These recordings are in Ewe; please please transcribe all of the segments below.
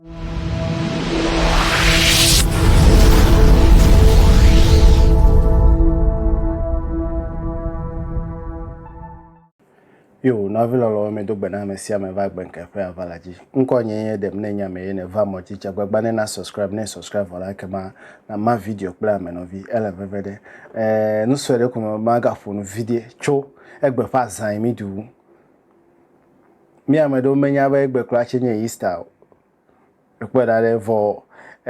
Yo, nɔvi lɔlɔwo medo gbe na ame sia ame va gbe nke ƒe avala dzi. Ŋkɔ nye ye ɖem ne nya me ye ne va mɔ dzi dze gbagba ne na subscribe ne subscribe vɔ la ke ma na ma video kple ame nɔvi ele veve ɖe. Eh, nusɔe ɖe ko me ma ga ƒo nu vidie tso egbe ƒe azã yi mi du. Mi ame ɖewo menya be egbe kura tse nye Easter o. Ekpɔe ɖa ɖe vɔ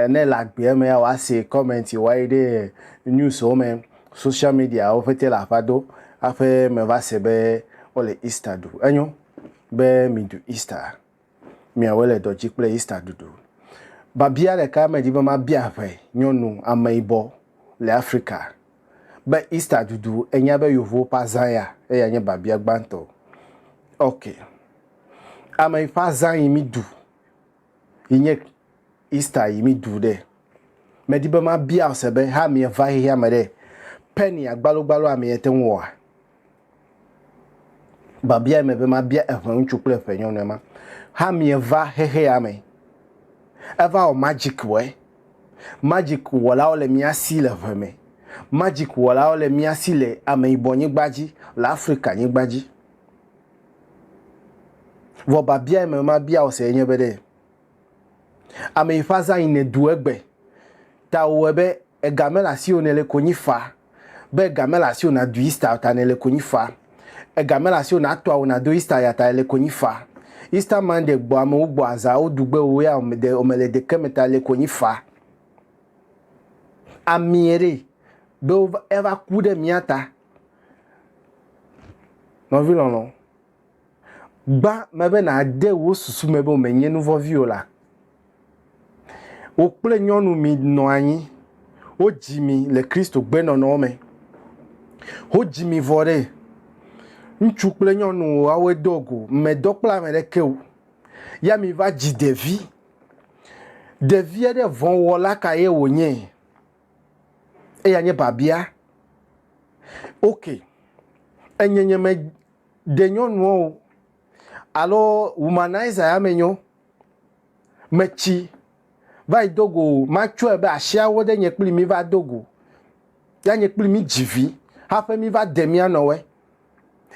ne le agbea me ya woase comment woayi ɖe news wo me, social media wo ƒete le aƒa do aƒe me va se be wole Easter ɖu. Enyo be miɖu Easter. miawoe le dɔ dzi kple Easter ɖuɖu. Biabia ɖeka medi be mabia ʋɛ nyɔnu ameyibɔ le Afrika be Easter ɖuɖu enya be yovowo ƒe azã ya, eya nye biabia gbãtɔ. Ok. Ame yi ƒe azã yi mi ɖu yi nye Easter yi mi ɖu ɖe? Medi be mabia ose be ha mieva xexeame ɖe, Penny agbalogbalo amee te ŋu wɔa? Babia me be mabia eʋɛ ŋutsu kple eʋɛ nyɔnue ma. Hamie va xexea me. Eva wɔ magic wɔe. Magic wɔlawo le mía si le ʋe me. Magic wɔlawo le mía si le ameyibɔ nyigba dzi, le Afrika nyigba dzi. Vɔ babia me mabia wò se enye be ɖe, ameyi ƒe azã yi nèɖu egbe ta wòwɔe be Ega mele asiwò nèle konyi fa. Be ega mele asiwò nàdu Easter ta nèle konyi fa. Ega mele asiwò nàto awu nàdo Easter ya ta èle konyi fa. Easter Monday gbɔ amewo gbɔ azã woɖu gbe wò ya de womele ɖeke me ta èle konyi fa. Amie ɖe be eva ku ɖe mía ta. Nɔvi lɔlɔ. Gbã me be nàde wò susu me be wòmenye nu vɔ̃vi o la, wò kple nyɔnu minɔ anyi. Wodzi mi le Kristo gbenɔnɔwo me. Wodzi mi vɔ ɖe ŋutsu kple nyɔnu woawoe do go, medɔ kple ame ɖeke o. Ya miva dzi ɖevi. Ɖevia ɖe vɔ̃wɔla kae wònye? Eya nye biabia. Ok, enyenyeme. Ɖe nyɔnuɔ o alo womanizer ya me nyɔ metsi va yi do go matsɔe be ashiawo ɖe nye kpli mi va do go ya nye kpli mi dzi vi haƒe mi va de mia nɔwe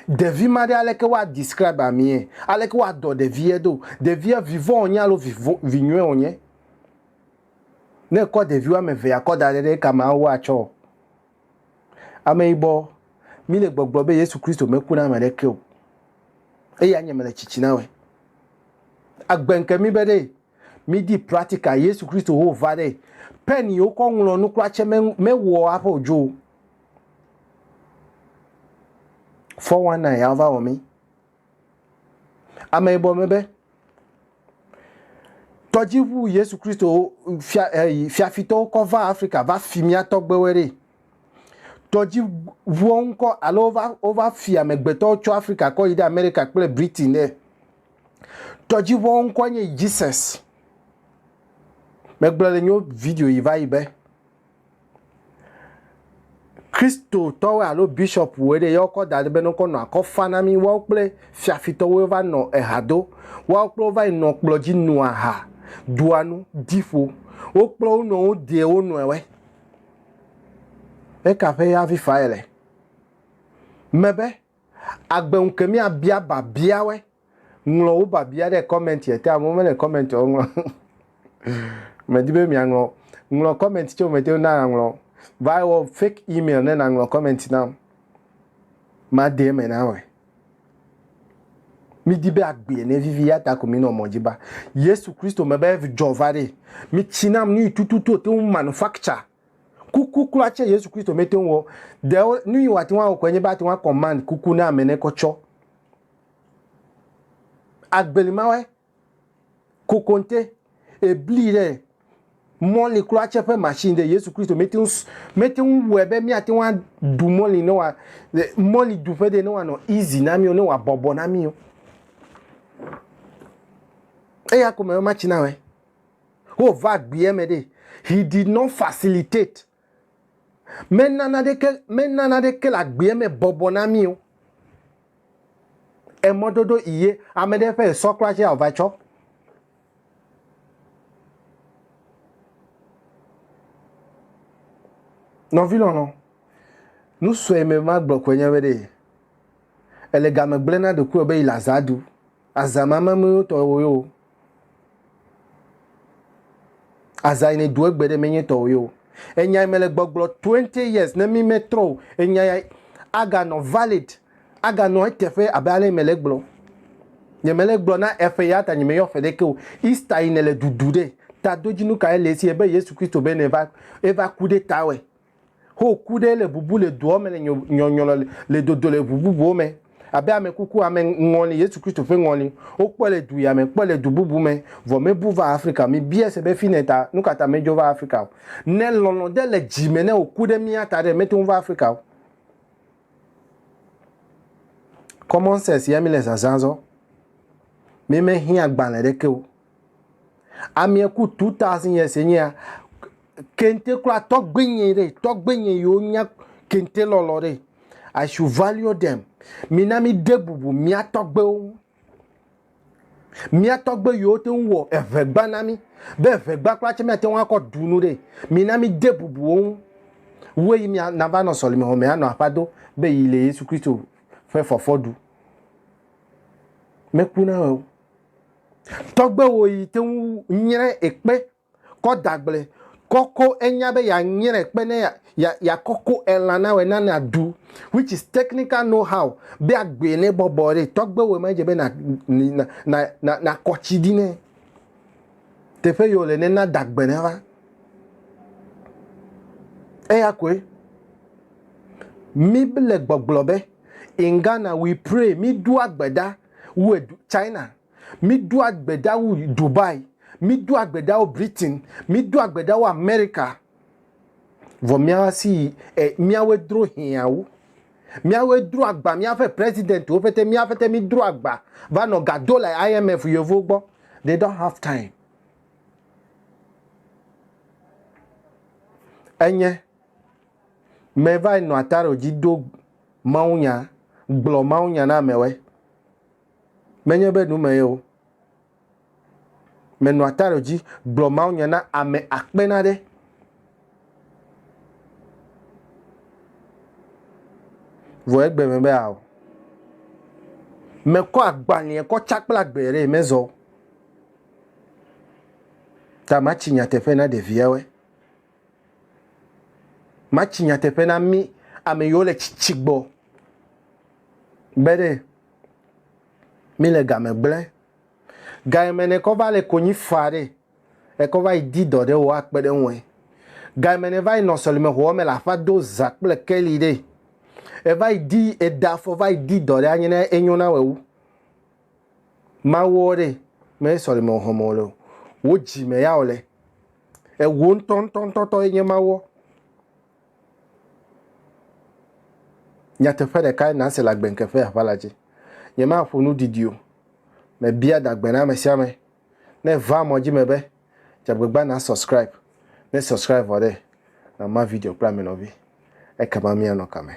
ɖevi ma ɖe aleke woa describe amie aleke woa dɔ ɖevie do ɖevie vivɔ onye alo vinyɔe onye ne kɔ ɖevi woame ve ya kɔ daɖe ɖe kama woa tsɔ Ameyibɔ, mi le gbɔgblɔ be Yesu Kristo meku na ame ɖeke o. Eya nye mele tsitsi na we. Agbe nke mi be ɖe mi di pratika Yesu Kristo ho va ɖe pen yi wokɔ ŋlɔ nu kura tse me wɔ aƒe odzo. Fɔ wana ya va wɔ mi. Ameyibɔ me be, tɔdziʋu Yesu Kristo fia, eh, fiafitɔwo kɔ va Afrika va fi mía tɔgbewoe ɖe. Tɔdziʋuwo ŋkɔ alo wova, wova fi amegbetɔwo tso Afrika kɔ yi ɖe Amerika kple Britain ɖe. Tɔdziʋuwo ŋkɔ nye Jesus. Megblɔ le nyo video yi va yi be, Kristotɔwoe alo bishɔpuwoe ɖe ya wokɔ da ɖi be ne wokɔ nɔ akɔ fa na mí. Woawo kple fiafitɔwoe va nɔ eha do. Woawo kple wo va yi nɔ kplɔ dzi noa aha, ɖua nu, di ƒo. Wo kple wo nɔewo deɛ wo nɔewoe. Eka ƒe ya vi fa yele? Mebe, agbe ŋu ke mía bia babiawoe Ŋlɔ wò biabia ɖe kɔmɛntia te. Amewo mele kɔmɛntiawo ŋlɔ. Medi be miaŋlɔ o. Ŋlɔ kɔmɛnti tse wòmete ŋu na aŋlɔ o. Va wɔ fake email ne nàŋlɔ kɔmɛnti nam. Made eme na wòe. Mídi be agbee nevivi eya ta ko mínɔ mɔ dzi ba Yesu Kristo me be dzɔ va ɖee. Mitsi nam nuyi tututu wòte ŋu manufacture kuku kura tse Yesu Kristo mete ŋu wɔ. Ɖe nuyi wòate ŋu awɔ koe nye be ate ŋu a command kuku ne ame ne kɔ tsɔ. agbeli ma wɛ kokonte ebli ɖe mɔli kura tse ƒe machine ɖe yesu kristo mete ŋu mete ŋu wɔe be míate ŋu aɖu mɔli ne wa mɔli ɖuƒe ɖe ne wanɔ easy na míwo ne wa bɔbɔ na míwo eya ko me matsi na wɛ wova gbea me ɖe he did not facilitate Mena naneke, mena naneke le agbea me bɔbɔ na mí o. Emɔdodo iye ame ɖe ƒe esɔ kura tse ava tsɔ. Nɔvi lɔlɔ, nusɔe me magblɔ koe nye be ɖe, èle game gblẽ na ɖokuiwò be yi le azã ɖu Aza ma ma me tɔ wo yo. Aza ne do egbe ɖe me nye tɔ wo yo. Enya me le gbɔgblɔ 20 years ne mi me trɔ o. Enya ya aga nɔ valid. Aga nɔ eteƒe abe ale me le gblɔ. Nye me le gblɔ na eƒe ya ta nye me yɔ ƒe ɖe ke o. Easter yi ne le dudu ɖe. Ta do dzi nu ka ye le esi ebe Yesu Kristo be ne va eva ku ɖe ta wɛ. Ho ku ɖe le bubu le doa me le nyɔnyrɔ le dodo le ʋu bubuwo me abe ame kuku ame ŋɔli Yesu Kristo ƒe ŋɔli. Wokpɔe le du ya me, kpɔe le du bubu me, vɔ mebu va Afrika o. Mibia se be fine ta nukata medzo va Afrika o. Ne lɔlɔ̃ ɖe le dzi me ne wòku ɖe mía ta ɖe, mete ŋu va Afrika o. Common sense ya mi le zazã zɔ. Mi me hiã agbalẽ ɖeke o. Amie ku two thousand years enye ya. Kente kura tɔgbenye ɖe, tɔgbenye yiwo nya kente lɔlɔ ɖe. I should value them. Mina mi de bubu mía tɔgbewo ŋu. Mía tɔgbe yiwo te ŋu wɔ eŋegba na mi be eŋegba kura tse míate ŋu akɔ ɖu nu ɖe. Mina mi de bubu wo ŋu. Wue yi mia nava nɔ sɔlime xɔ me anɔ aƒa do be yi le Yesu Kristo ƒe fɔfɔ ɖu. Meku na wɔ o. Tɔgbe wo yi te ŋu nyrɛ ekpe kɔ dagble kɔko enya be ya nyrɛ ekpe ne ya ya kɔko elã na wɛ na na du which is technical know how be agbe ne bɔbɔ re tɔgbe wo ma je be na na na na na kɔtsi di ne teƒe yo le ne na dagbe ne va eya koe mi le gbɔgblɔ be in Ghana we pray mi do agbeda wu edu China, mídoa gbe ɖa wu Dubai, mídoa gbe ɖa wu Britain, mídoa gbe ɖa wu Amerika. Vɔ míawa si yi e míawoe dro hiã wu. Míawoe dro agba míaƒe presidentwo pɛtɛ, mía pɛtɛ mídro agba va nɔ ga do le IMF yevuwo gbɔ. They don't have time. Enye, meva yi nɔ ataro dzi do mawunya, gblɔ mawunya na amewe. Menye be nu me ye o. Menɔa ta ɖe dzi gblɔ mawunya na ame akpe na ɖe. Vɔ egbe me be ao. Mekɔ agbalẽa kɔ tsa kple agbe ɖe mezɔ. Ta matsi nyateƒe na ɖeviawe. Matsi nyateƒe na mí ame yiwo le tsitsi gbɔ be ɖe míle game gblẽ. Gayime ne kɔ va le konyi faa ɖe, ekɔ va yi di dɔ ɖe wò akpe ɖe ŋue. Gayime ne va yi nɔ sɔlimexoɔ me le aƒa do zã kple keli ɖe, eva yi di eda fɔ va yi di dɔ ɖe anye na enyo na wò wu. Mawu ɔ ɖe me sɔleme ɔhɔn me ɔ le wo dji me ya ɔ le ewo ŋtɔ ŋtɔ ŋtɔ tɔ ye nye Mawu ɔ. Nyateƒe ɖeka ye na se le agbe ŋke ƒe aʋa la dji. Nye ma ƒo nu didi o. Me bia da gbe na ame sia ame ne e va mɔ dji me be dja gbegba na subscribe. Ne subscribe vɔ ɖe, na ma video kple ame nɔvi. Ekema mia nɔ kame.